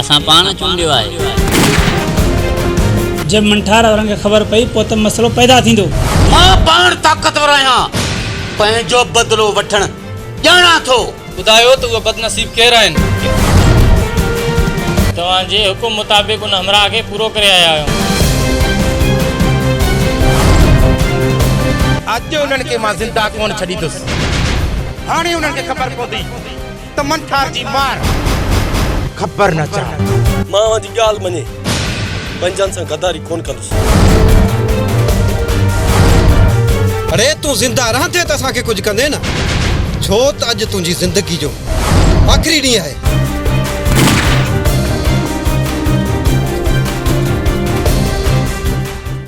اسان پاڻ چونڊيو آهي. جي منٺار وارن کي خبر پئي پوء ته مسئلو پيدا ٿيندو. مان پاڻ طاقتور آهيان. پنهنجو بدلو وٺڻ ڄاڻان ٿو. ٻڌايو ته اهي بدنصيب ڪير آهن؟ توهان جي حڪم مطابق ان همراهه کي پورو ڪري آيا آهيون. اڄ انهن کي مان زنده ڪونه ڇڏيندس. هاڻي انهن کي خبر پوندي. ته منٺار جي مار خبر نه چاهندو. مان اوهان جي ڳالهه مڃي پنهنجن سان غداري ڪونه ڪندس. اڙي تون زنده رهندي ته اسان کي ڪجهه ڪندين نه ڇو ته اڄ تنهنجي زندگي جو آخري ڏينهن آهي.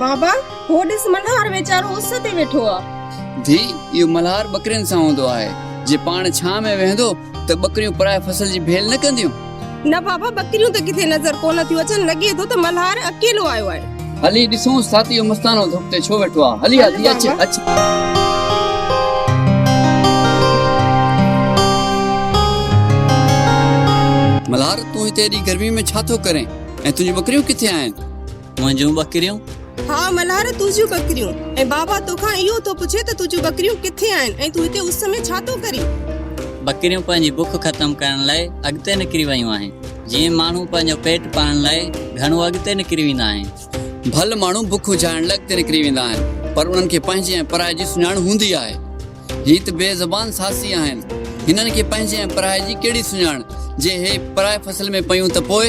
بابا، هو ڏس ملهار ويچارو اس تي ويٺو آ. ڌيء، اهو ملهار ٻڪرين سان هوندو آهي. جي پاڻ ڇانهه ۾ ويهندو ته ٻڪريون پرائي فصل جي ڀيل نه ڪنديون؟ نه بابا ٻڪريون ته ڪٿي نظر ڪونه ٿيون اچن لڳي ٿو ته ملهار اڪيلو آيو آهي. هلي ڏسونس ساٿي اهو مستانو ڌڪ تي ڇو ويٺو آهي هلي هاٿي اچ اچ. ملهار تون هتي ايڏي گرمي ۾ ڇا ٿو ڪرين ۽ تنهنجون ٻڪريون ڪٿي آهن؟ منهنجون ٻڪريون؟ ها ملهار تنهنجون ٻڪريون. ۽ بابا توکان اهو ٿو پڇي ته تنهنجون ٻڪريون ڪٿي آهن ۽ تون هتي اس ۾ ڇا ٿو ڪرين؟ ٻڪريون پنهنجي بک ختم ڪرڻ لاء اڳتي نڪري ويون آهن. جيئن ماڻهو پنهنجو پيٽ پالڻ لاء گهڻو اڳتي نڪري ويندا آهن. ڀل ماڻهو بک اجهائڻ لاء اڳتي نڪري ويندا آهن پر انهن کي پنهنجي ۽ پرائي جي سڃاڻ هوندي آهي. هي ته بي زبان ساسي آهن. هنن کي پنهنجي ۽ پرائي جي ڪهڙي سڃاڻ؟ جي هي پرائي فصل ۾ پيون ته پوء؟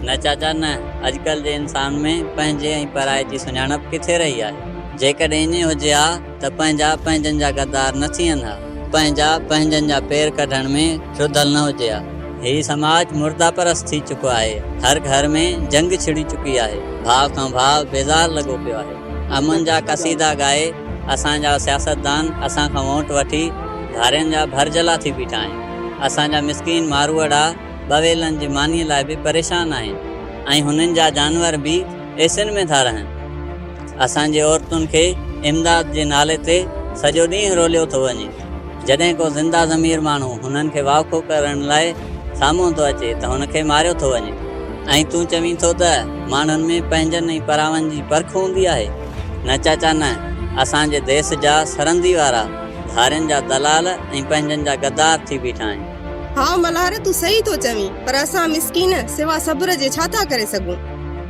نه چاچا نه. اڄڪلهه جي انسان ۾ پنهنجي ۽ پرائي جي سڃاڻپ ڪٿي رهي آهي. جيڪڏهن ائين هجي ها ته پنهنجا پنهنجن جا غدار نه ٿين ها. پنهنجا پنهنجن جا پير ڪڍڻ ۾ رڌل نه هجي ها. هي سماج مرده پرست ٿي چڪو آهي. هر گهر ۾ جنگ ڇڙي چڪي آهي. ڀاء کان ڀاء بيزار لڳو پيو آهي. امن جا قصيدا ڳائي. اسان جا سياستدان اسان کان وونٽ وٺي ڌارين جا ڀرجهلا ٿي بيٺا آهن. اسان جا مسڪين ماروئڙا ٻويلن جي مانيء لاء به پريشان آهن ۽ هنن جا جانور به ايسين ۾ ٿا رهن. اسان جي عورتن کي امداد جي نالي تي سڄو ڏينهن روليو ٿو وڃي. جڏهن ڪو زنده ضمير ماڻهو هنن کي واکو ڪرڻ لاء سامهون ٿو اچي ته هن کي ماريو ٿو وڃي ۽ تون چوين ٿو ته ماڻهن ۾ پنهنجن ۽ پراون جي پرک هوندي آهي. نه چاچا نه، اسان جي ديس جا سرندي وارا ڌارين جا دلال ۽ پنهنجن جا غدار ٿي بيٺا آهن. هاء ملهار تون صحيح ٿو چوين، پر اسان مسڪين سوا صبر جي ڇا ٿا ڪري سگهون؟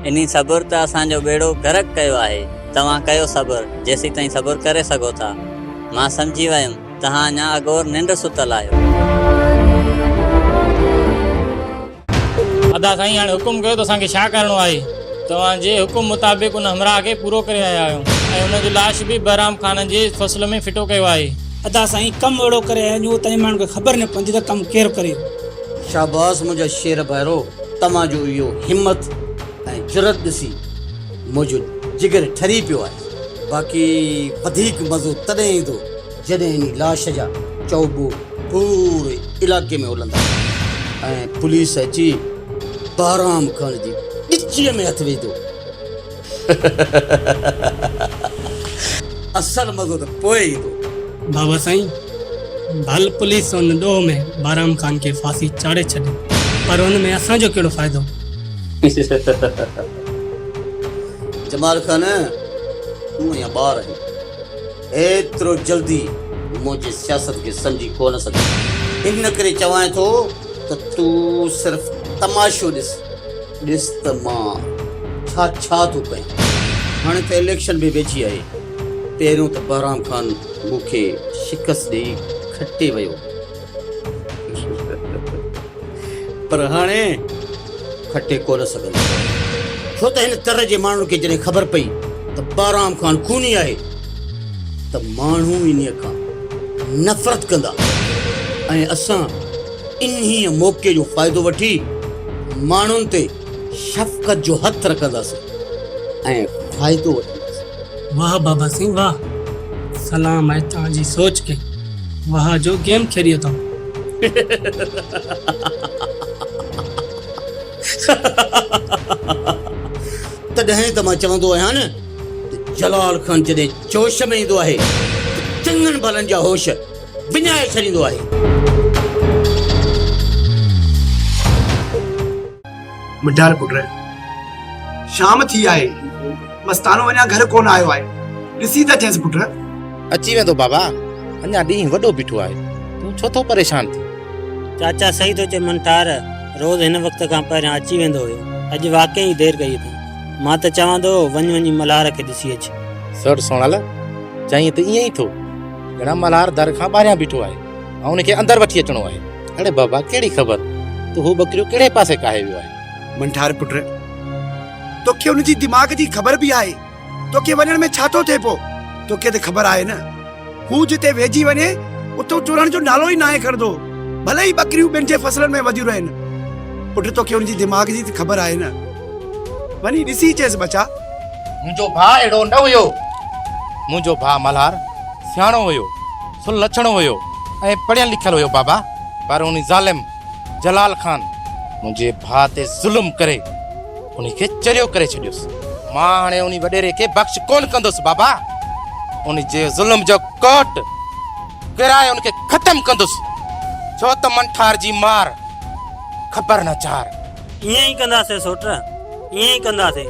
انهي صبر ته اسان جو ٻيڙو غرق ڪيو آهي، توهان ڪيو صبر جيسيتائين صبر ڪري سگهو ٿا. مان سمجهي ويم توهان اڃا اگهور ننڊ ستل آهيو. ادا سائين هاڻي حڪم ڪيو ته اسان کي ڇا ڪرڻو آهي؟ توهان جي حڪم مطابق ان همراهه کي پورو ڪري آيا آهيون ۽ ان جو لاش به بهرام خان جي فصل ۾ ڦٽو ڪيو آهي. ادا سائين ڪم اهڙو ڪري آيا آهيون جو اتان جي ماڻهن کي خبر نه پوندي ته ڪم ڪير ڪري. شاباس منهنجا شير ڀائرو توهان جو اهو همت ۽ جرئت ڏسي منهنجو جگر ٺري پيو آهي باقي وڌيڪ مزو تڏهن ايندو جڏهن انهي لاش جا چؤبو پوري علائقي ۾ هلندا ۽ پوليس اچي بهرام خان جي ڳچيء ۾ هٿ وجهندو. اصل مزو ته پوء ايندو. بابا سائين، ڀل پوليس ان ڏوهه ۾ بهرام خان کي ڦاسي چاڙهي ڇڏي، پر ان ۾ اسان جو ڪهڙو فائدو؟ جمال خان، تون اڃا ٻار آهين. ايترو جلدي منهنجي سياست کي سمجهي ڪونه سگهندين. ان ڪري چوانء ٿو ته تون صرف تماشو ڏس. ڏس ته مان ڇا ڇا ٿو ڪيان. هاڻي ته اليڪشن به ويجهي آهي. پهريون ته بهرام خان مون کي شڪست ڏيئي کٽي ويو. پر هاڻي کٽي ڪونه سگهندو، ڇو ته هن تر جي ماڻهن کي جڏهن خبر پئي ته بارام خان خوني آهي ته ماڻهو انهيء کان نفرت ڪندا ۽ اسان انهيء موقعي جو فائدو وٺي ماڻهن تي شفقت جو هٿ رکندس ۽ فائدو وٺندس. واهه بابا سين واهه. سلام آهي توهان جي سوچ کي. واهه جو گيم کيڏيو توهان. تڏهن ته مان چوندو آهيان نه ته جلال خان جڏهن جوش ۾ ايندو آهي ته چڱن ڀلن جا هوش وڃائي ڇڏيندو آهي. مڊال پٽ! شام ٿي آهي، مستانو اڃا گهر ڪونه آيو آهي، ڏسي ته اچينس پٽ. اچي ويندو بابا، اڃا ڏينهن وڏو بيٺو آهي، تون ڇو ٿو پريشان ٿين؟ چاچا صحيح ٿو چئي منٽار، روز هن وقت کان پهريان اچي ويندو هيو، اڄ واقعي ئي دير ڪئي اٿئي، مان ته چوان ٿو وڃ وڃي ملهار کي ڏسي اچ. سئوٽ سونال چيائين ته ائين ئي ٿو. ڄڻ ملهار در کان ٻاهريان بيٺو آهي ۽ ان کي اندر وٺي اچڻو آهي. اڙي بابا ڪهڙي خبر ته هو ٻڪريون ڪهڙي پاسي ڪاهي ويو آهي. منٺار پٽ توکي ان جي دماغ جي خبر به آهي توکي وڃڻ ۾ ڇا ٿو ٿئي پو توکي ته خبر آهي نه هو جتي ويهجي وڃي اتو ٽرڻ جو نالو ئي ناهي کڻندو ڀلي ئي ٻڪريون ٻين جي فصلن ۾ وڌيون رهن پٽ توکي ان جي دماغ جي ته خبر آهي نه. وڃي ڏسي چيس ٻچا. منهنجو ڀاء اهڙو نه هيو. منهنجو ڀاء ملهار سياڻو هيو، سلڇڻو هيو ۽ پڙهيل لکيل هيو بابا، پر ان ظالم جلال خان منهنجي ڀاء تي ظلم ڪري ان کي چريو ڪري ڇڏيس. مان هاڻي ان وڏيري کي بخش ڪونه ڪندس بابا، ان جي ظلم جو ڪوٽ ڪرائي ان کي ختم ڪندس، ڇو ته منٺار جي مار خبر نه چار. ائين ئي ڪنداسين سوٽ، ائين ئي ڪنداسين.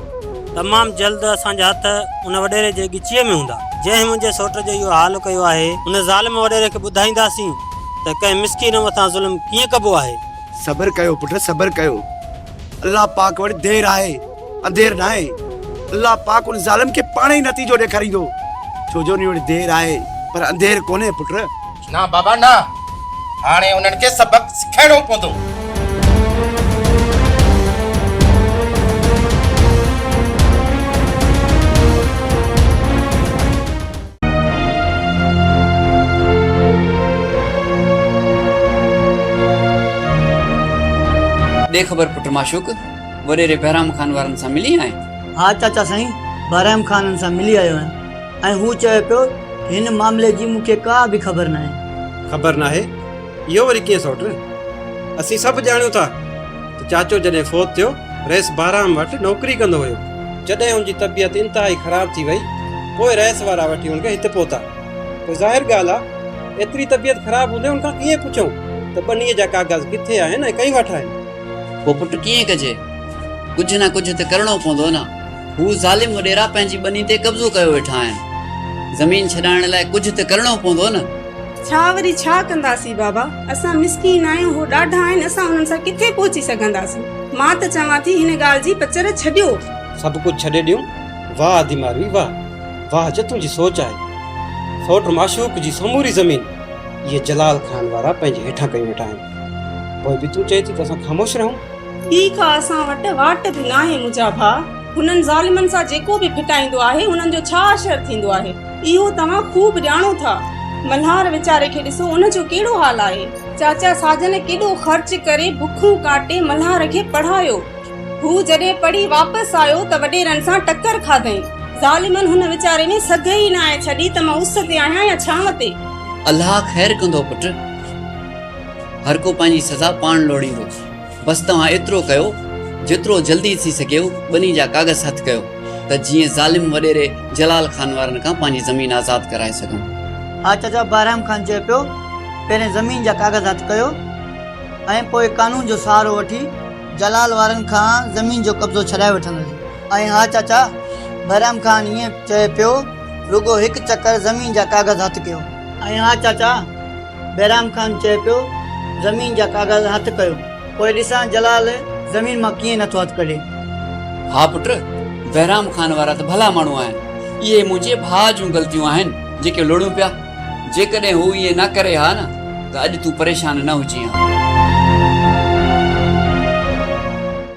تمام جلد اسان جا هٿ ان وڏيري جي ڳچيء ۾ هوندا، جنهن منهنجي سوٽ جو اهو حال ڪيو آهي. ان ظالم وڏيري کي ٻڌائينداسين ته ڪنهن مسڪين مٿان ظلم ڪيئن ڪبو آهي. صبر ڪيو پٽ صبر ڪيو. الله پاڪ وٽ دير آهي انڌير ناهي. الله پاڪ ان ظالم کي پاڻ ئي نتيجو ڏيکاريندو. ڇو جو ان وٽ دير آهي پر انڌير ڪونهي پٽ. نه بابا نه هاڻي انهن کي سبق سکائڻو پوندو. ڏي خبر پٽ معشوق وڏيري بهرام خان وارن سان ملي آئين؟ ها چاچا سائين بهرام خانن سان ملي آيو آهيان. ۽ هو چوي پيو ته هن معاملي جي مون کي ڪا به خبر ناهي. خبر ناهي؟ اهو وري ڪيئن سئوٽ؟ اسين سڀ ڄاڻيون ٿا ته چاچو جڏهن فوت ٿيو رئيس بهرام وٽ نوڪري ڪندو هيو. جڏهن هن جي طبيعت انتهائي خراب ٿي وئي پوء رئيس وارا وٺي هن کي هت پهتا. پوء ظاهر ڳالهه آهي ايتري طبيعت خراب هوندي هن کان ڪيئن پڇون ته ٻنيء جا ڪاغذ ڪٿي آهن ۽ ڪنهن وٽ آهن؟ پوء پٽ ڪيئن ڪجي؟ ڪجهه نه ڪجهه ته ڪرڻو پوندو نه. هو ظالم وڏيرا پنهنجي ٻني تي قبضو ڪيو ويٺا آهن. زمين ڇڏائڻ لاء ڪجهه ته ڪرڻو پوندو نه. ڇا وري ڇا ڪنداسين بابا. اسان مسڪين آهيون هو ڏاڍا آهن اسان انهن سان ڪٿي پهچي سگهنداسين. مان ته چوان ٿي هن ڳالهه جي پچر ڇڏيو. سڀ ڪجهه ڇڏي ڏيون. واهه ادي ماروي واهه. واهه جو تنهنجي سوچ آهي. سوٽ معشوق جي سموري زمين اهي جلال خان وارا پنهنجي هيٺان ڪيو ويٺا آهن. پوء به تون چئين ٿي ته اسان خاموش رهون. ٻي ڪا اسان وٽ واٽ به ناهي منهنجا ڀاء، هنن ظالمن سان جيڪو به ڦٽائيندو آهي انهن جو ڇا حشر ٿيندو آهي اهو توهان خوب ڄاڻو ٿا. ملهار ويچاري کي ڏسو ان جو ڪهڙو حال آهي. چاچا ساجن ڪيڏو خرچ ڪري بکون ڪاٽي ملهار کي پڙهايو. هو جڏهن پڙهي واپس آيو ته وڏيرن سان ٽڪر کاڌئين. ظالمن هن ويچاري ۾ سگهه ئي ناهي ڇڏي ته مان اس تي آهيان يا ڇانو تي. الله خير ڪندو پٽ. هر ڪو پنهنجي سزا پاڻ لوڙيندو. بس توهان ايترو ڪيو جيترو جلدي ٿي سگهيو ٻني جا ڪاغذ هٿ ڪيو ته جيئن ظالم وڏيري جلال خان وارن کان پنهنجي زمين آزاد ڪرائي سگهون. ها چچا بهرام خان چئي پيو پهرين زمين جا ڪاغذ هٿ ڪيو ۽ پوء قانون جو سهارو وٺي جلال وارن کان زمين جو قبضو ڇڏائي وٺنداسين. ۽ ها چچا بهرام خان ائين چئي پيو رڳو هڪ چڪر زمين جا ڪاغذ هٿ ڪيو. ۽ ها چچا بهرام خان چئي پيو، زمين جا ڪاغذ هٿ ڪيو. پوء ڏسان جلال زمين مان ڪيئن نٿو هٿ ڪڍي. ها پٽ، بهرام خان وارا ته ڀلا ماڻهو آهن. اهي منهنجي ڀاء جون غلطيون آهن، جيڪي لوڙيون پيا. جيڪڏهن هو ائين نه ڪري ها نه ته اڄ تون پريشان نه هجين ها.